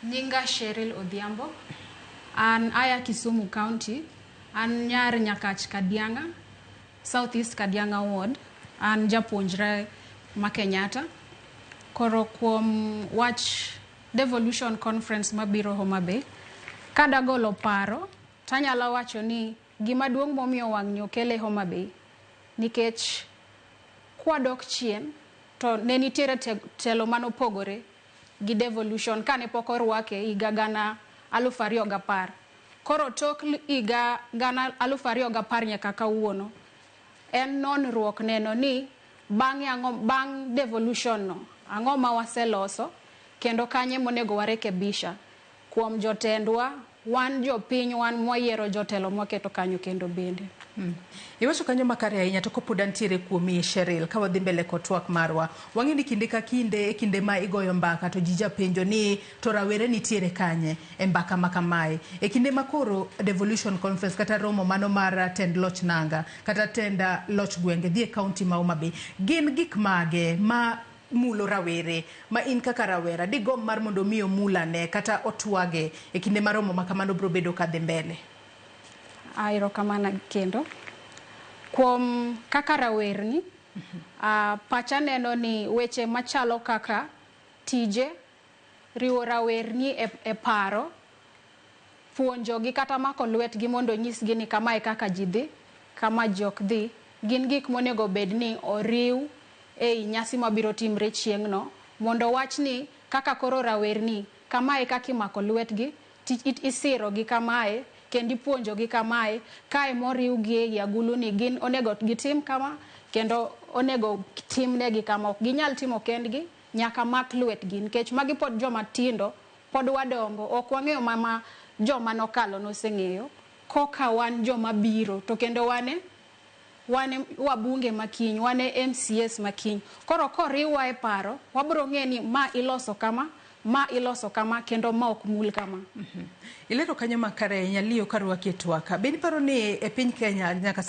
Nyinga Cheryl Odhiambo. An aya Kisumu County. An nyar Nyakach Kadianga, South East Kadianga Ward. An japuonjre ma Kenyatta. Koro kuom wach devolution conference mabiro Homa Bay, kadagolo paro tanyalo wacho ni gima duong' momiyo wang' nyo kele Homa Bay nikech kwadok chien to ne nitiere te- telo manopogore gi devolution kane pok orwake higa gana alufu ariyo gapar. Koro tok higa gana alufu ariyo gapar nyaka kawuono, en nonruok neno ni bang'e ang'o, bang' devolution no ang'o ma waseloso kendo kanye monego warekebisha kuom jotendwa, Wan jopiny wan mwayiero jotelo mwaketo kanyo kendo bende. Mm. Iwacho kanyo makare ahinya to kopod antiere kuomi Sheril ka wadhi mbele kod twak marwa. Wang'e ni kinde ka kinde e kinde ma igoyo mbaka to ji japenjo ni to rawere nitiere kanye e mbaka ma kamae. E kinde ma koro devolution conference kata romo mano mar tend loch nanga kata tend loch gwenge dhi e kaunti ma Homa Bay. Gin gik mage ma mulo rawere, ma in kaka rawera digomb mar mondo omi omul ane kata otwage e kinde ma romo ma kamano biro bedo ka dhi mbele? A, Erokamano kendo. Kuom kaka rawerni, a, pacha neno ni weche machalo kaka tije, Riwo rawerni e paro, puonjogi, kata mako lwetgi mondo onyisgi ni kama e kaka ji dhi, kama ji ok dhi, gin gik monego obed ni oriw e i nyasi ma biro timre chieng'no, mondo wach ni kaka koro rawerni, kama e kaka imako lwetgi, isirogi kamae, kendo ipuonjogi kamae, kae moriwgi e i agulu ni gin onego gitim kama, kendo onego timnegi kama. Ok ginyal timo kendgi. Nyaka mak lwetgi, nikech magi pod joma tindo, pod wadongo, ok wang'eyo ma ma joma nokalo noseng'eyo, koka wan joma biro, to kendo wan e wan e wabunge ma kiny, wan e MCAs ma kiny. Koro koriwwa e paro, wabiro ng'eyo ni ma iloso kama, ma iloso kama, kendo ma ok mul kama. Ilero kanyo makare ahinya. Leo, karwaki e twaka. Be iparo ni e piny Kenya nyaka sani,